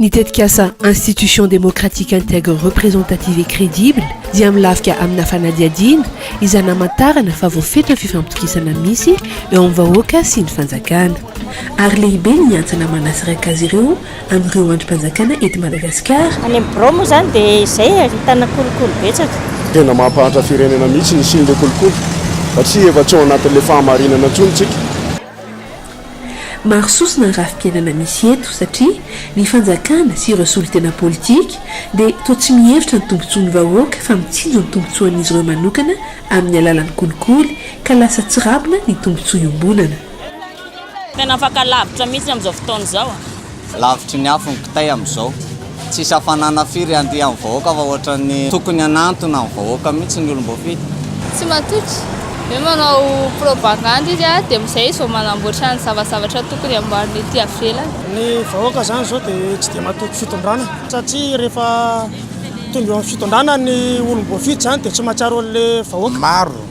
Ny tetikasa Institution démocratique intègre représentative et crédible dia milafika amina fanadihadiana izay namantarana fa voafetra ny fifampitokisana misy eo amin'ny vahoaka sy ny fanjakana ary lehibe ny antsana manasiraka azy ireo amin'ireo andrim-panjakana eto Madagasikara. Any amin'ny birao moa izany dia izay ary hitana kolikoly betsaka. Tena mampahantra firenena mihitsy ny hisian'ilay kolikoly satria efa tsy ao anatin'ilay fahamarinana intsony isika. Maro sosona ny rafi-piainana misy eto satria ny fanjakana sy ireo solontena politika dia toa tsy mihevitra ny tombontsoan'ny vahoaka fa mitsinjo ny tombontsoan'izy ireo manokana amin'ny alalan'ny kolikoly ka lasa tsirambina ny tombontsoa iombonana. Tena afaka lavitra mihitsy amin'izao fotoana izao a. Lavitry ny afo ny kitay amin'izao. Tsisy hafanana firy handihy amin'ny vahoaka fa ohatran'ny tokony hanantona ny vahoaka mihitsy ny olom-boafidy. Tsy matoky. Hoe manao propagandy izy a, dia amin'izay izy vao manamboatra ny zavazavatra tokony hamboariny ety avelany. Ny vahoaka izany izao dia tsy dia matoky fitondrana satria rehefa tonga eo amin'ny fitondrana ny olom-boafidy izany dia tsy mahatsiaro an'ilay vahoaka. Maro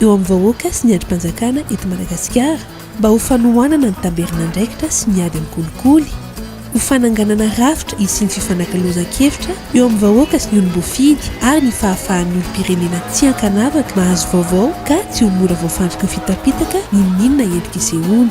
eo amin'ny vahoaka sy ny andrim-panjakana eto Madagasikara mba ho fanohanana ny tamberin'andraikitra sy ny ady amin'ny kolikoly, ho fananganana rafitra hisian'ny fifanakalozan-kevitra eo amin'ny vahoaka sy ny olom-boafidy ary ny fahafahan'ny olom-pirenena tsy ankanavaka mahazo vaovao ka tsy ho mora voafandriky ny fitapitaka n'inon'inona endrika isehoany.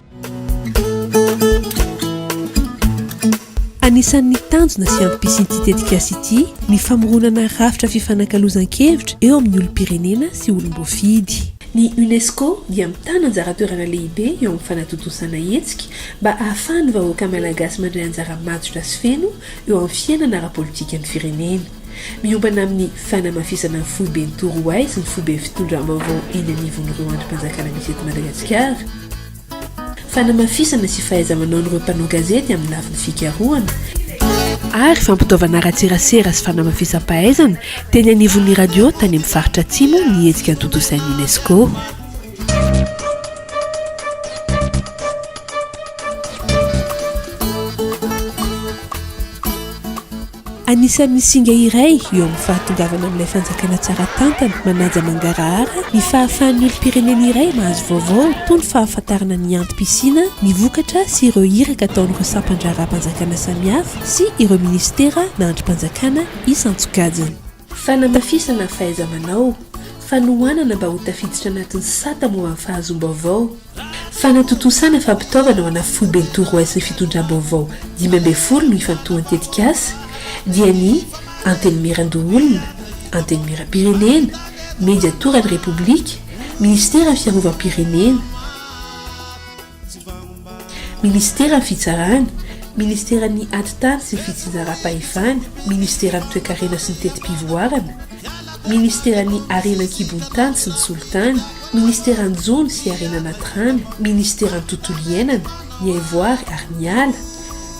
Anisan'ny tanjona sy antom-pisian'ity tetikasa ity ny famoronana rafitra fifanakalozan-kevitra eo amin'ny olom-pirenena sy olom-boafidy. Ny UNESCO dia mitana anjara toerana lehibe eo amin'ny fanatontosana hetsika mba ahafahan'ny vahoaka malagasy mandray anjara matotra sy feno eo amin'ny fiainana ara-politikan'ny firenena. Miombana amin'ny fanamafisana ny foiben'i Torohay sy ny foibe fitondram-baovao eny anivon'ireo andrim-panjakana misy eto Madagasikara, fanamafisana sy fahaiza-manaon'ireo mpanao gazety amin'ny lafiny fikarohana, ary fampitaovana ara-tserasera sy fanamafisam-pahaizana teny anivon'ny radio tany amin'ny faritra Atsimo ny hetsika notontosain'ny UNESCO. Anisan'ny singa iray eo amin'ny fahatongavana amin'ilay fanjakana tsara tantana manaja mangarahara ny fahafahan'ny olom-pirenena iray mahazo vaovao toa ny fahafantarana ny antom-pisiana ny vokatra sy ireo iraka ataon'ireo sampan-draharaham-panjakana samihafa sy ireo minisitera na andrim-panjakana isan-tsokajiny. Fanamafisana ny fahaiza-manao, fanohanana mba ho tafiditra anatin'ny sata momba ny fahazoam-baovao, fanatontosana fampitaovana ho ana Foiben'ny Torohay sy ny Fitondram-baovao dimy ambin'ny folo no ifantohan'ny tetikasa, dia ny Antenimierandoholona, Antenimierampirenena, Mediatoran'ny Repoblika, Minisiteran'ny Fiarovam-pirenena. Ministeran'ny Fitsarana, Ministeran'ny Atitany sy Fitsinjaram-pahefana, Ministeran'ny Toekarena sy ny Teti-pivoarana, Ministeran'ny Harena an-kibon'ny tany sy ny Solitany, Ministeran'ny Jono sy Harena Anaty Rano, Ministeran'ny Tontolo Iainana, ny Haivoary ary ny Ala,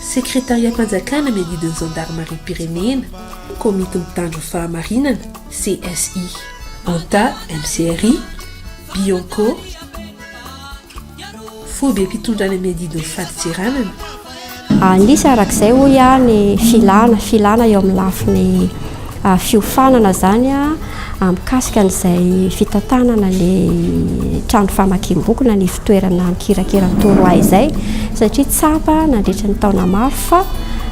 Sekretariam-panjakana miadidy ny Zandarimariam-pirenena, Komity Mitandro ny Fahamarinana, CSI. Anta, MCRI, Bianco. Fohy be mpitondra any amin'ny adidin'ny fadintseranana. An'isa arak'izay hoy aho ny filana, filana eo amin'ny lafiny fiofanana izany mikasika an'izay fitantanana ny trano famakiam-boky na ny fitoerana mikirakira ny torohay izay satria tsapa nandritra ny taona maro fa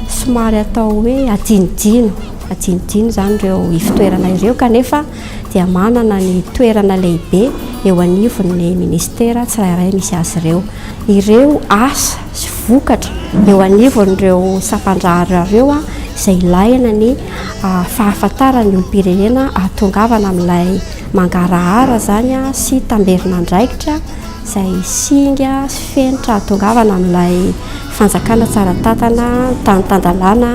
somary atao hoe adinodino, adinodino izany ireo ifitoerana ireo kanefa dia manana ny toerana lehibe eo anivon'ny ministera tsirairay misy azy ireo. Ireo asa sy vokatra eo anivon'ireo sampandraharira ireo izay ilahina ny fahafantaran'ny olom-pirenena ahatongavana amin'ilay mangarahara izany sy tamberin'andraikitra izay singa sy fenitra ahatongavana amin'ilay fanjakana tsara tantana, tany tan-dalàna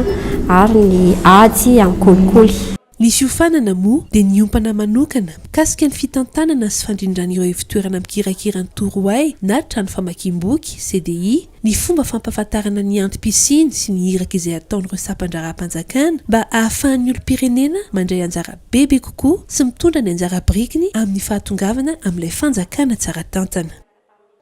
ary ny ady amin'ny kolikoly. Ny fiofanana moa dia niompana manokana mikasika ny fitantanana sy fandrindran'ireo ivotoerana mikirakira ny Torohay na trano famakiam-boky, CDI, ny fomba fampahafantarana ny antom-pisiany sy ny iraka izay ataon'ireo sampan-draharaham-panjakana mba ahafahan'ny olom-pirenena mandray anjara bebe kokoa sy mitondra ny anjara birikiny amin'ny fahatongavana amin'ilay fanjakana tsara tantana.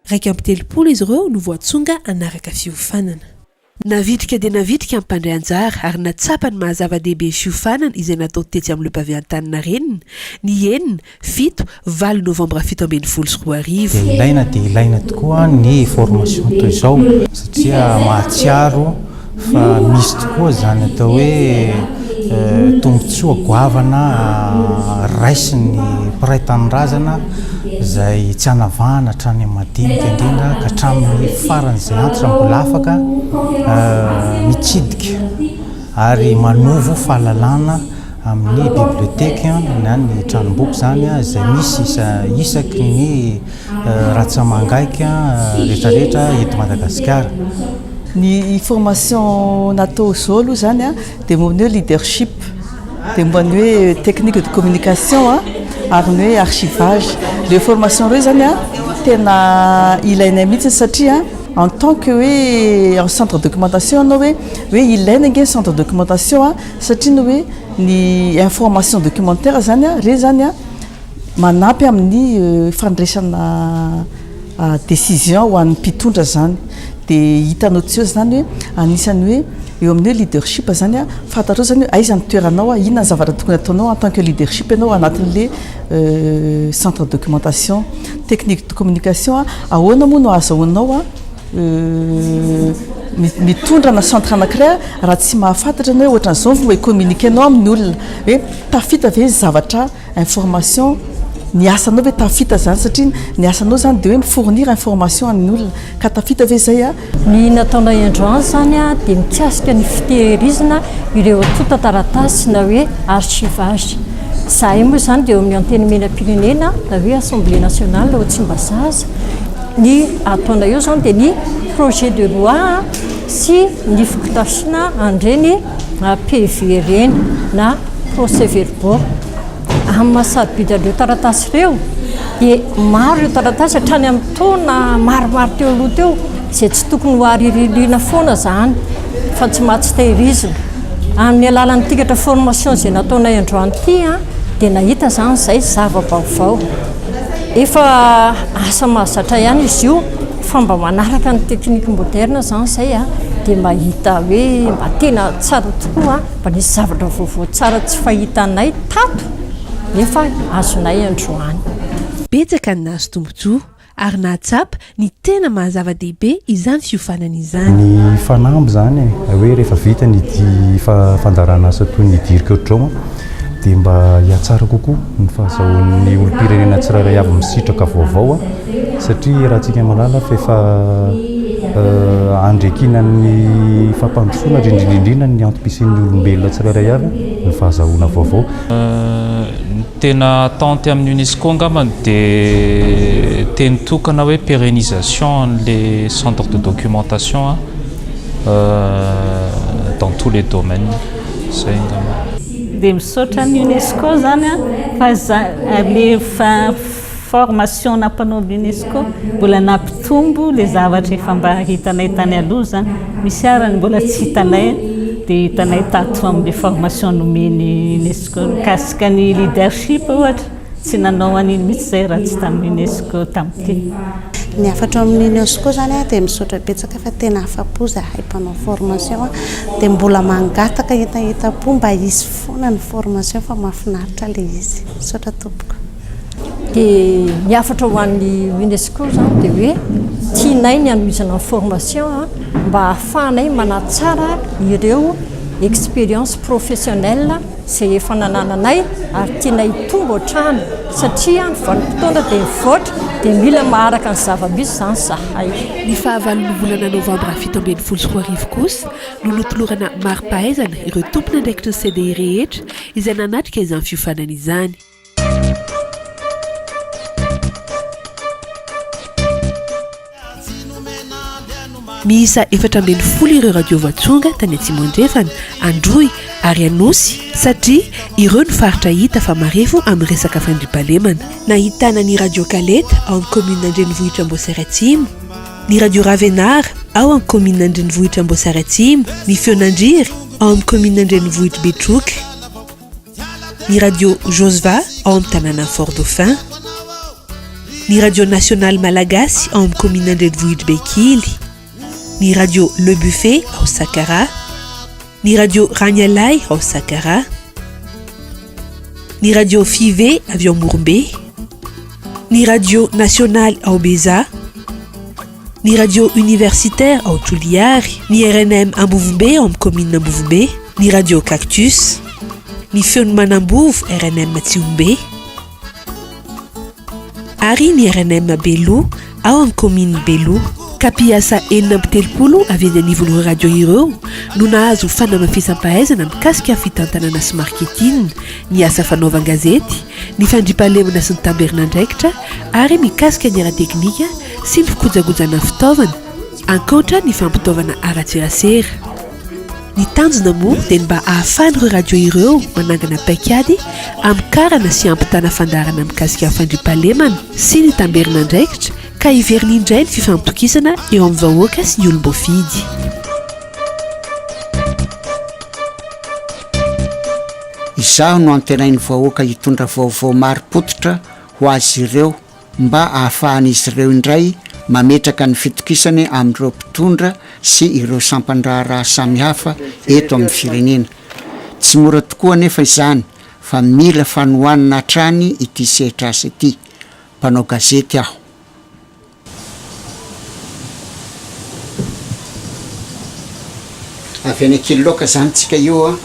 Iraika amby telopolo izy ireo no voatsonga hanaraka fiofanana. Navitrika dia navitrika ny mpandray anjara ary nahatsapa ny maha-zava-dehibe ny fiofanana izay natao tetsy amin'ny Le Pavé Antaninarenina, ny enina, fito, valo novambra fito ambin'ny folo sy roa arivo. Dia ilaina dia ilaina tokoa ny formation toy izao satria mahatsiaro fa misy tokoa izany atao hoe tombontsoa goavana raisin'ny mpiray tanindrazana izay tsy anavahana hatrany amin'ny madinika indrindra ka hatramin'ny faran'izay antitra mbola afaka mitsidika ary manovo fahalalana amin'ny biblioteke na ny tranomboky izany izay misy isa isaky ny ratsamangaika rehetrarehetra eto Madagasikara. Ny formation natao izao aloha izany a, dia momba ny hoe leadership, dia momba ny hoe technique de communication a, ary ny hoe archivage. Ireo formation ireo izany a, tena ilainay mihitsy satria en tant que hoe en centre documentation ianao hoe, hoe ilaina ange ny centre documentation a, satria ny hoe ny information documentaire izany a, ireny izany a, manampy amin'ny fandraisana. Decision ho an'ny mpitondra izany dia hitanao tsy eo izany hoe anisan'ny hoe eo amin'ny hoe leadership izany fantatrao izany hoe aiza ny toeranao, inona ny zavatra tokony hataonao en tant que leadership ianao anatin'ilay centre de documentation. Technique de communication, ahoana moa no ahazahoanao mitondra ana centre anankiray raha tsy mahafantatra ianao hoe ohatran'izao no e-communiquer-nao amin'ny olona hoe tafita ve ny zavatra information, ny asanao ve tafita izany satria ny asanao izany dia hoe mi fournir information an'ny olona ka tafita ve izay a? Ny nataonay androany izany a dia mikasika ny fitehirizina ireo antontan-taratasy na hoe archivage. Izahay moa izany dia eo amin'ny Antenimierampirenena na hoe Assemblée nationale ao Tsimbazaza. Ny ataonay eo izany dia ny projet de loi sy ny fotodrafitr'na an'ireny PV ireny na procès verbal. Bon, amin'ny maha sarobidy an'ireo taratasy ireo dia maro ireo taratasy hatrany amin'ny taona maromaro teo aloha teo izay tsy tokony ho ariririana foana izany fa tsy maha tsy tehirizina. Amin'ny alalan'ny tikatra formation izay nataonay androany ity dia nahita izany izay zava-baovao. Efa asa mahazatra ihany izy io fa mba manaraka ny technique moderne izany izay dia mahita hoe mba tena tsara tokoa. Fa nisy zavatra vaovao tsara tsy fahitanay tato nefa azonay androany. Betsaka ny nahazo tombontsoa ary nahatsapa ny tena maha zava-dehibe izany fiofanana izany. Ny fanamby izany e, hoe rehefa vita ny fandaharan'asa toy ny Dirk Otroma dia mba hihatsara kokoa ny fahazahoan'ny olom-pirenena tsirairay avy misitraka vaovao. satria ratsika malala fefa andriakinan'ny fampandrosoana rindrindrindrina ny antom-pisian'ny olombelona tsirairay avy ny fahazahoana vaovao. Ny tena attente amin'ny UNESCO angamba dia teny tokana hoe pérénisation an'le centre de documentation dans tous les domaines. Zay angamba. Dia misaotra an'i UNESCO zany fa za le fa. Formation-na mpanaovy UNESCO mbola nampitombo le zavatra efa mba hitanay tany aloha zany, misy ary ny mbola tsy hitanay de hitanay tato amle formation nomen'i UNESCO mikasika ny leadership ohatra, tsy nanao an'iny mitsy zay raha tsy tam UNESCO tam ty. Ny hafatra ao amin'ny UNESCO zany a dia misaotra betsaka fa tena afa-po zahay mpanao formation a, dia mbola mangataka entaentam-po mba hisy foana ny formation fa mahafinaritra ilay izy. Misaotra tompoko. Dia ny hafatra ho an'ny UNESCO izany dia hoe tianay ny hanohizana ny formation mba hahafahanay manatsara ireo expériences professionnelles izay efa nanananay ary tianay hitombo hatrany satria ny vanim-potoana dia mivoatra dia mila maharaka ny zava-misy izany izahay. Ny fahavalon'ny volana novambra fito ambin'ny folo sy roa arivo kosa no notolorana mari-pahaizana ireo tompon'andraikitry ny CDI rehetra izay nanatrika izany fiofanana izany. miisa efatra ambin'ny folo ireo radio voatsonga tany atsimo andrefana androy ary anosy satria ireo ny faritra hita fa marefo amin'ny resaka fandripalemana nahitana ny radio kaleta ao amin'ny komina andrenivohitra amboasary atsimo ny radio ravenara ao amin'ny komina andrenivohitra amboasary atsimo ny feonandriry ao amin'ny komina andrenivohitra betroky ny radio josva ao amin'ny tanàna fort dauphin ny radio nasionaly malagasy ao amin'ny komina andrenivohitry bekily ny radio le buffet ao sakara ny radio ranialay ao sakara ny radio five avy ao morombe ny radio nasionaly ao beza ny radio universitaire ao Toliary, ny rnm Ambovombe ao amin'ny commune Ambovombe, ny radio Cactus, ny feon'ny Manambovo rnm Tsihombe ary ny rnm Beloha ao amin'ny commune Beloha. Ka mpiasa enina amby telopolo avy eny anivon'ireo radio ireo no nahazo fanamafisam-pahaizana mikasika ny fitantanana sy marketing, ny asa fanaovan-gazety, ny fandriampahalemana sy ny tamberin'andraikitra ary mikasika ny ara-teknika, sy ny fikojakojana fitaovana, ankoatra ny fampitaovana ara-tserasera. Ny tanjona moa dia ny mba ahafahan'ireo radio ireo manangana paikady hamokarana sy hampitana fandaharana mikasika ny fandriampahalemana sy ny tamberin'andraikitra ka hiverina indray ny fifampitokisana eo amin'ny vahoaka sy ny olom-boafidy. Izaho no antenain'ny vahoaka hitondra vaovao marim-pototra ho azy ireo. mba hahafahan'izy ireo indray mametraka ny fitokisany amin'ireo mpitondra sy ireo sampan-draharaha samihafa eto amin'ny firenena. Tsy mora tokoa anefa izany fa mila fanohanana hatrany ity sehatr'asa ity. Mpanao gazety aho. Avy any Ankiloka izany tsika io an!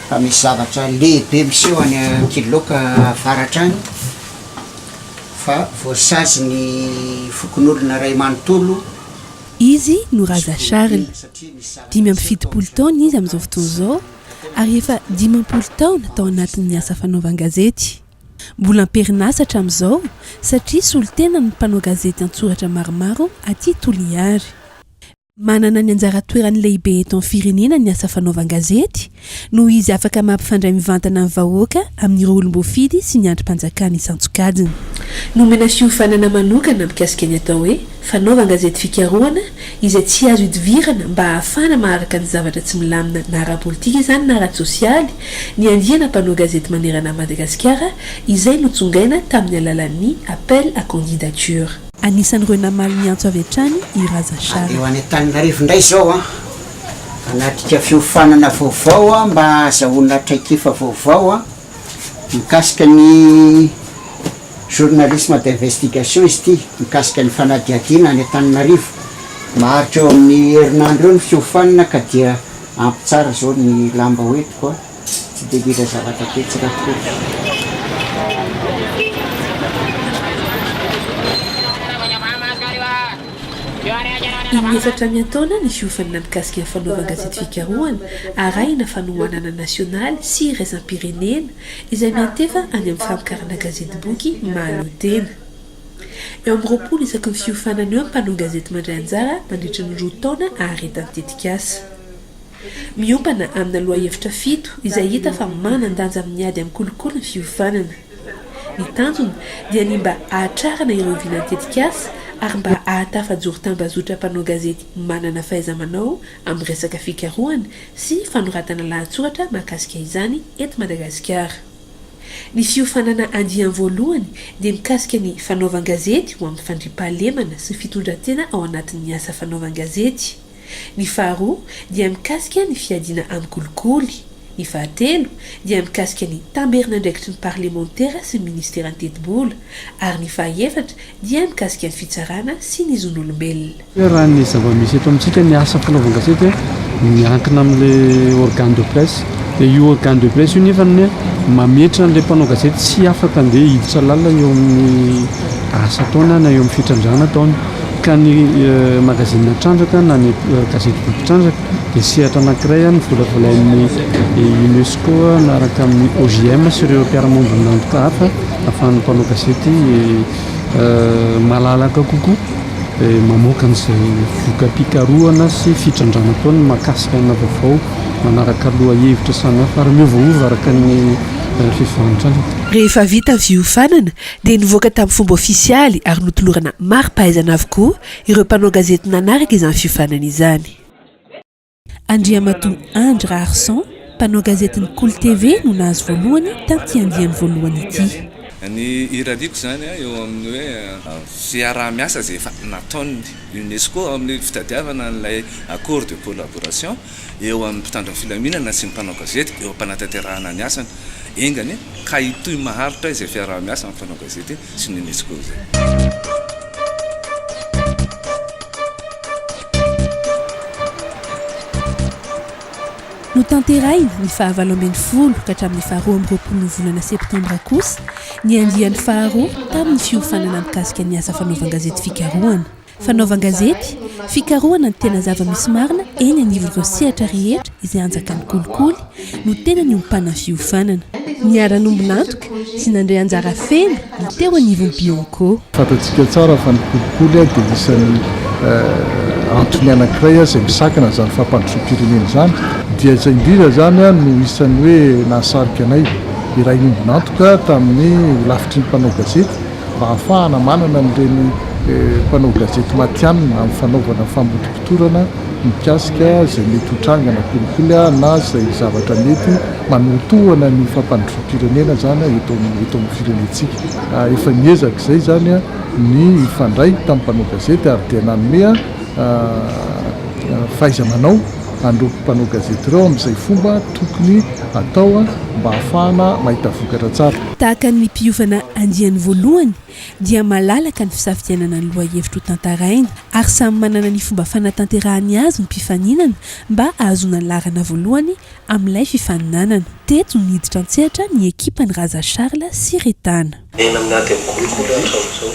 Fa misy zavatra lehibe miseho any Ankiloka avaratra any. fa voasazy ny fokonolona iray manontolo. Izy no Raza Charles. Dimy amby fitopolo taona izy amin'izao fotoana izao ary efa dimampolo taona tao anatin'ny asa fanaovan-gazety. Mbola am-perinasa hatramin'izao satria solontenan'ny mpanao gazety an-tsoratra maromaro aty Toliary. Manana ny anjara toerany lehibe eto amin'ny firenena ny asa fanaovan-gazety, noho izy afaka mampifandray mivantana ny vahoaka amin'ireo olom-boafidy sy ny andrim-panjakana isan-tsokajiny. Nomena fiofanana manokana mikasika ny atao hoe fanaovan-gazety fikarohana izay tsy azo idivirana mba hahafahana maharaka ny zavatra tsy milamina na ara-politika izany na ara-tsosialy ny andiana mpanao gazety manerana an'i Madagasikara izay notsongaina tamin'ny alalan'ny appel à candidature. Anisan'ireo namaly ny antso avy hatrany i Razasharm. Eo any Antananarivo indray izao an, hanatrika fiofanana vaovao mba hahazahoana traikefa vaovao mikasika ny journalisme d'investigation izy ity, mikasika ny fanadihadiana any Antananarivo. Maharitra eo amin'ny herinandro eo ny fiofanana ka dia hampitsara izao ny lamba hoentiko. Tsy dia ngeza zavatra tetsy Rakoto. In-efatra amin'ny antaona ny fiofanana mikasika ny fanaovan-gazety fikarohana arahina fanohanana nasionaly sy iraisam-pirenena izay miantefa any amin'ny famokarana gazetiboky mahaleotena. Eo amin'ny roapolo isaky ny fiofanana eo ny mpanao gazety mandray anjara mandritra ny roa taona aharetan'ny tetikasa. Miompana amina lohahevitra fito izay hita fa manan-danja amin'ny ady amin'ny kolikoly ny fiovanana. Ny tanjona dia ny mba hahatrarana ireo vinan'ny tetikasa ary mba hahatafajoro tambazotra mpanao gazety manana fahaiza-manao amin'ny resaka fikarohana sy fanoratana lahatsoratra mahakasika izany eto Madagasikara. Ny fiofanana andiany voalohany dia mikasika ny fanaovan-gazety ho amin'ny fandriampahalemana sy fitondran-tena ao anatin'ny asa fanaovan-gazety. Ny faharoa dia mikasika ny fiadiana amin'ny kolikoly. Ny fahatelo dia mikasika ny tamberin'andraikitry ny parlemantera sy ny ministeran'ny tetibola, ary ny fahaefatra dia mikasika ny fitsarana sy ny zon'olombelona. Hoe raha ny zava-misy eto amintsika ny asa fanaovan-gazety dia miankina amin'ilay organe de presse. Dia io organe de presse io nefa ny mametra an'ilay mpanao gazety tsy afaka handeha hiditra lalina eo amin'ny asa ataony na eo amin'ny fitrandrahana ataony. Ka ny magazine Trandraka na ny gazety Boky Trandraka dia sehatra anankiray novolavolain'ny UNESCO miaraka amin'ny OJM sy ireo mpiara-miombon'antoka hafa ahafahan'ny mpanao gazety malalaka kokoa mamoaka an'izay voka-pikarohana sy fitrandrahana ataony mahakasika ana vaovao manaraka lohahevitra samihafa ary miovaova araka ny fifahan-trandraka. Rehefa vita ny fiofanana dia nivoaka tamin'ny fomba ofisialy ary notolorana mari-pahaizana avokoa ireo mpanao gazety nanaraka izany fiofanana izany. Andriamatoa Andry Raharison, mpanao gazetin'ny Kolo TV no nahazo voalohany tamin'ity andiany voalohany ity. Ny irariako izany eo amin'ny hoe fiaraha-miasa izay efa nataon'ny UNESCO amin'ny fitadiavana an'ilay accord de collaboration. eo amin'ny mpitandro ny filaminana sy ny mpanao gazety eo am-panatanterahana ny asany enga anie ka hitohy maharitra izay fiaraha-miasa amin'ny mpanao gazety sy ny UNESCO izay. Notanterahina ny faha valo ambin'ny folo ka hatramin'ny faha roa amby roapolon'ny volana septambra kosa ny andiany faharoa tamin'ny fiofanana mikasika ny asa fanaovan-gazety fikarohana. fanaovan-gazety, fikarohana ny tena zava-misy marina eny anivon'ireo sehatra rehetra izay anjakan'ny kolikoly no tena niompana fiofanana. Niara-nombon'antoka sy nandray anjara feno ny teo anivon'ny Bionco. Fantatsika tsara fa ny kolikoly dia isan'ny antony anankiray izay misakana izany fampandrosoam-pirenena izany. Dia izay indrindra izany no isan'ny hoe nahasarika anay hiray nombon'antoka tamin'ny holafitry ny mpanao gazety. mba hahafahana manana an'ireny mpanao gazety matihanina amin'ny fanaovana famotopotorana mikasika izay mety ho tranga na kolikoly na izay zavatra mety manohitohana ny fampandrosoam-pirenena izany eto amin'ny firenentsika. Efa niezaka izay izany ny hifandray tamin'ny mpanao gazety ary dia nanome fahaiza-manao an'ireo mpanao gazety ireo amin'izay fomba tokony hatao mba hahafahana mahita vokatra tsara. Tahaka ny mpiofana andiany voalohany dia malalaka ny fisafidianana ny lohahevitra ho tantaraina ary samy manana ny fomba fanatanterahany azy ny mpifaninana mba ahazoana ny laharana voalohany amin'ilay fifaninanana. Teto niditra an-tsehatra ny ekipan'i Raza Charles sy Retana. Enina amin'ny ady amin'ny kolikoly hatramin'izao.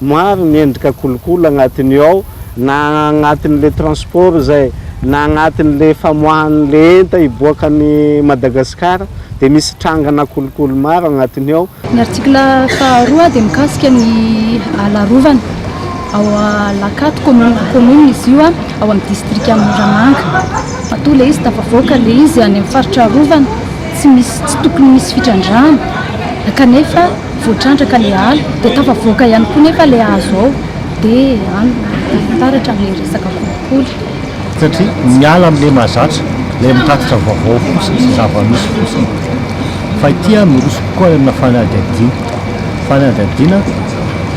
Maro ny endrika kolikoly agnatin'io ao, na agnatin'le transport izay, na agnatin'le famoahan'le enta hiboaka any Madagascar dia misy trangana kolikoly maro agnatin'io ao. Ny article faharoa dia mikasika ny ala arovana ao Alakato commune, commune izy io ao amin'ny distrika Moramanga. Matoa le izy tafavoaka le izy any amin'ny faritra arovana tsy misy, tsy tokony misy fitrandrahana kanefa. Voatrandraka ilay ala dia tafavoaka ihany koa nefa ilay hazo ao dia any no taratra amin'ilay resaka kolikoly. Satria miala amin'ilay mahazatra, ilay mitatitra vaovao fotsiny sy zava-misy fotsiny. Fa ity an, miroso kokoa any amina fanadihadiana. Fanadihadiana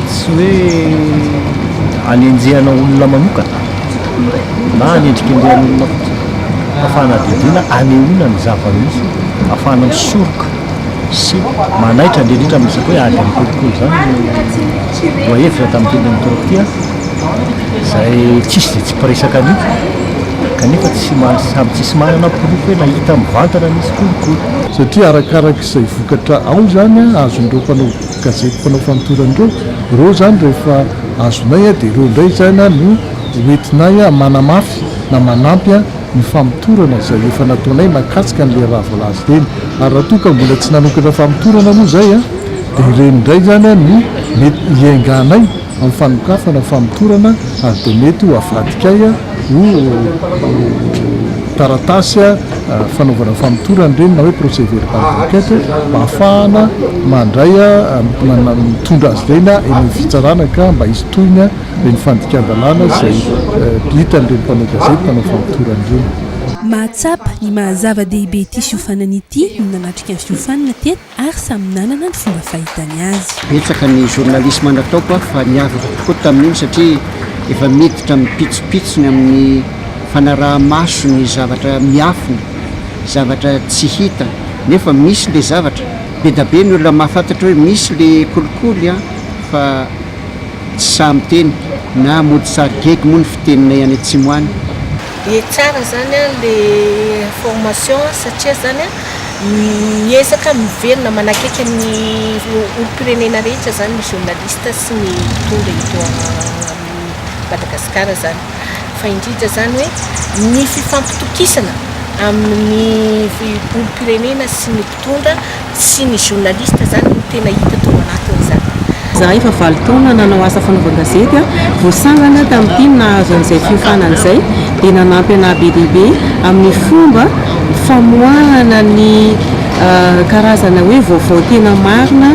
tsy hoe anenjehana olona manokana na anendrikendrehana olona fotsiny fa fanadihadiana anehoana ny zava-misy ahafahana misoroka. sy manaitra indrindra amin'ny resaka hoe ady amin'ny kolikoly izany no voahevitra tamin'ny tendrony taloha ity an, izay tsisy izay tsy mpiresaka an'io kanefa tsy maha samy tsisy manana porofo hoe nahita mivantana nisy kolikoly. Satria arakaraka izay vokatra ao izany an, azon'ireo mpanao gazety mpanao famotorana ireo, ireo izany rehefa azonay dia ireo indray izany an no hoentinay manamafy na manampy an, ny famotorana izay efa nataonay mahakasika an'ilay raha voalaza ireny ary raha toa ka mbola tsy nanokatra famotorana moa izay dia ireny indray izany no mety hiainganay amin'ny fanokafana famotorana ary dia mety ho avadikay ho taratasy fanaovana famotorana ireny na hoe procès verbal d'enquête mba hahafahana mandray mitondra azy ireny eny amin'ny fitsarana ka mba hisy tohiny dia ny fandikan-dalàna izay hitan'ireny mpanao gazety mpanao famotorana ireny. Mahatsapa ny maha zava-dehibe ity fiofanana ity ny nanatrika ny fiofanana teto ary samy nanana ny fomba fahitany azy. Betsaka ny journalisme nataoko aho fa niavaka tokoa tamin'iny satria efa miditra mipitsopitsony amin'ny fanaraha-maso ny zavatra miafina, zavatra tsy hita nefa misy ilay zavatra. Be da be ny olona mahafantatra hoe misy ilay kolikoly an, fa. Tsy sahy miteny na mody sary gegy moa ny fiteninay any atsimo any. Dia tsara zany le formation satria zany miezaka miverina manakaiky ny olompirenena rehetra zany ny journaliste sy ny mpitondra eto Madagascar zany fa indrindra zany hoe ny fifampitokisana amin'ny olompirenena sy ny. mpitondra sy ny journaliste zany no tena hita tao anatiny zany. Zahay efa valo taona nanao asa fanaovan-gazety aho vao sangany tamin'ity no nahazo an'izay fiofanana izay dia nanampy anah be dia be amin'ny fomba famoahana ny karazana hoe vaovao tena marina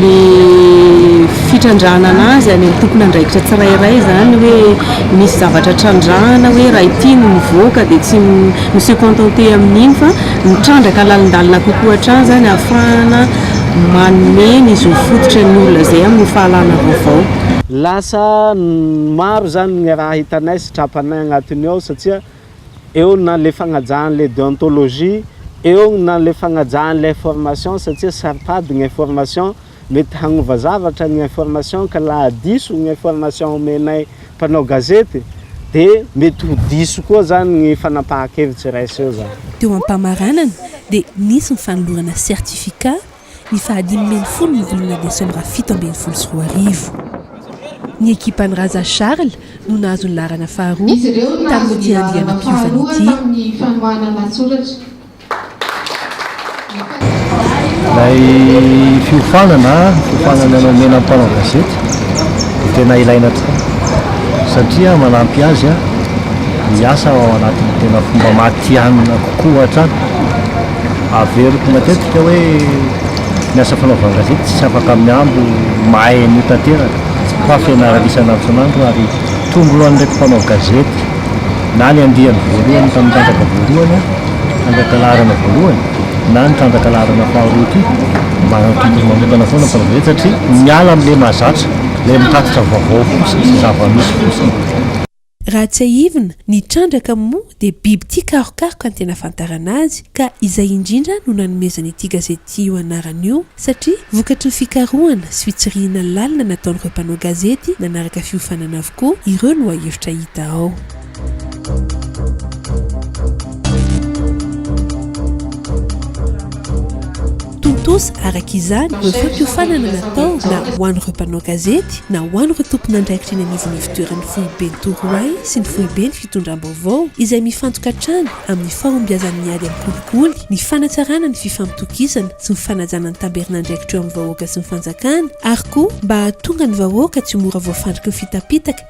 le fitrandrahanana azy any amin'ny tompon'andraikitra tsirairay izany hoe misy zavatra trandrahana hoe raha ity no mivoaka dia tsy mi-se contenter amin'iny fa Mitrandraka lalindalina kokoa hatrany izany ahafahana manome ny zo fototra ny olona izay amin'ny fahalana vaovao. Lasa maro izany ny raha hitanay sy trapanay agnatiny ao satsia eo na le fagnajahan'le deontologie, eo na le fagnajahan'le information satsia saro-pady ny information. Mety hagnova zavatra ny information ka laha diso ny information omenay mpanao gazety de mety ho diso koa zany ny fanapahan-kevitry iray seho zany. Teo am-pamaranana dia nisy ny fanolorana certificat ny faha dimy ambin'ny folo ny volana desambra fito ambin'ny folo sy roa arivo. Ny ekipan'i Raza Charles no nahazo ny laharana faharoa tamin'ity andianam-piovana ity. Ilay fiofanana, fiofanana nomena ny mpanao gazety dia tena ilaina tokoa satria manampy azy hiasa ao anatin'ny tena fomba matihanina kokoa hatrany. Averiko matetika hoe ny asa fanaovan-gazety tsy afaka mihambo mahay an'io tanteraka fa fianarana isan'antson'andro ary tonglo an'ireto mpanao gazety na ny andiany voalohany tamin'ny tatraka voalohany Trandraka laharana voalohany na ny trandraka laharana faharoa ity mba tompony manokana foana ny fanaovana izany satria miala amin'ilay mahazatra, ilay mitatitra vaovao fotsiny sy zava-misy fotsiny. Raha tsiahivina, ny trandraka moa dia biby tia karokaroka ny tena ahafantarana azy ka izay indrindra no nanomezana ity gazety ity io anarana io satria vokatry ny fikarohana sy fitsirihina lalina nataon'ireo mpanao gazety nanaraka fiofanana avokoa ireo lohahevitra hita ao. Tontosa araka izany ny fampiofanana natao na ho an'ireo mpanao gazety na ho an'ireo tompon'andraikitra eny anivon'ny ivotoeran'ny foiben'i Torohay sy ny foiben'ny fitondram-baovao izay mifantoka hatrany amin'ny fahombiazan'ny ady amin'ny kolikoly, ny fanatsarana ny fifampitokisana sy ny fanajana ny tamberin'andraikitra eo amin'ny vahoaka sy ny fanjakana ary koa mba hahatonga ny vahoaka tsy ho mora voafandriky ny fitapitaka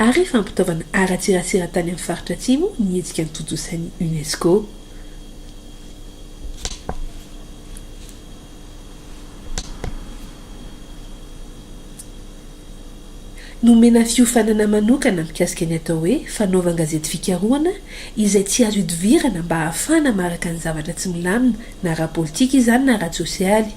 ary fampitaovana ara-tserasera tany amin'ny faritra Atsimo ny hetsika notontosain'ny UNESCO. Nomena fiofanana manokana mikasika ny atao hoe fanaovan-gazety fikarohana izay tsy azo idivirana mba hahafahana maharaka ny zavatra tsy milamina na ara-politika izany na ara-tsosialy.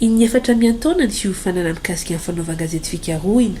Iny efatra miantaona ny fiofanana mikasika ny fanaovan-gazety fikarohina.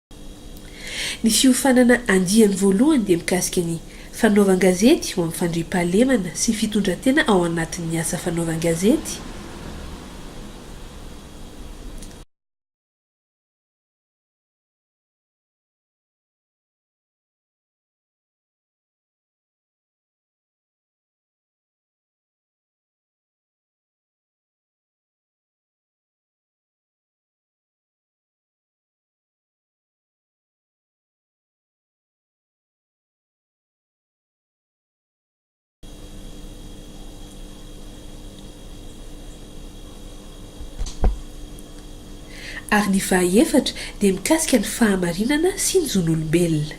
Ny fiofanana andiany voalohany dia mikasika ny fanaovan-gazety ho amin'ny fandriampahalemana sy fitondran-tena ao anatin'ny asa fanaovan-gazety, ary ny fahaefatra dia mikasika ny fahamarinana sy ny zon'olombelona.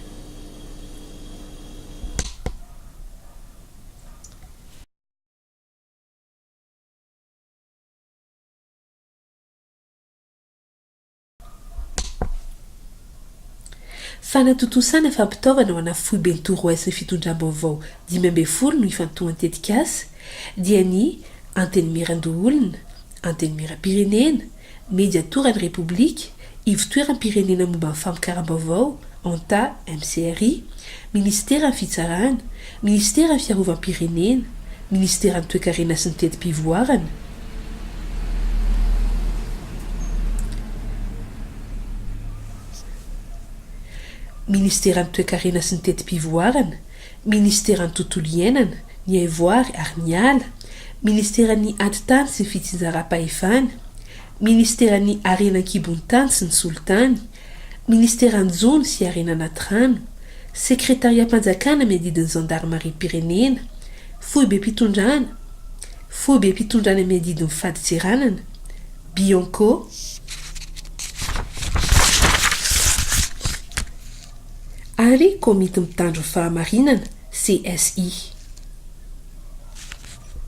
Fanatontosana fampitaovana ho ana Foiben Torohay sy Fitondram-baovao dimy ambin'ny folo no ifantohan-tetikasa, dia ny Antenimierandoholona, Antenimieram-pirenena, Mediatoran'ny Repoblika, Ivotoeram-pirenena momba ny Famokaram-baovao, Anta, MCRI, Ministeran'ny Fitsarana, Ministeran'ny Fiarovam-pirenena, Ministeran'ny Toekarena sy ny Teti-pivoarana, Ministeran'ny Toekarena sy ny Teti-pivoarana, Ministeran'ny Tontolo iainana, ny Haivoary ary ny Ala, Ministeran'ny Atitany sy ny Fitsinjaram-pahefana, Ministeran'ny Harena an-kibon'ny tany sy ny Solitany, Ministeran'ny Jono sy Harena Anaty Rano, Sekretariam-panjakana miadidy ny Zandarimariam-pirenena, Foibem-pitondrana, Foibem-pitondrana miadidy ny Fadintseranana, Bianco, ary Komity Mitandro ny Fahamarinana, CSI.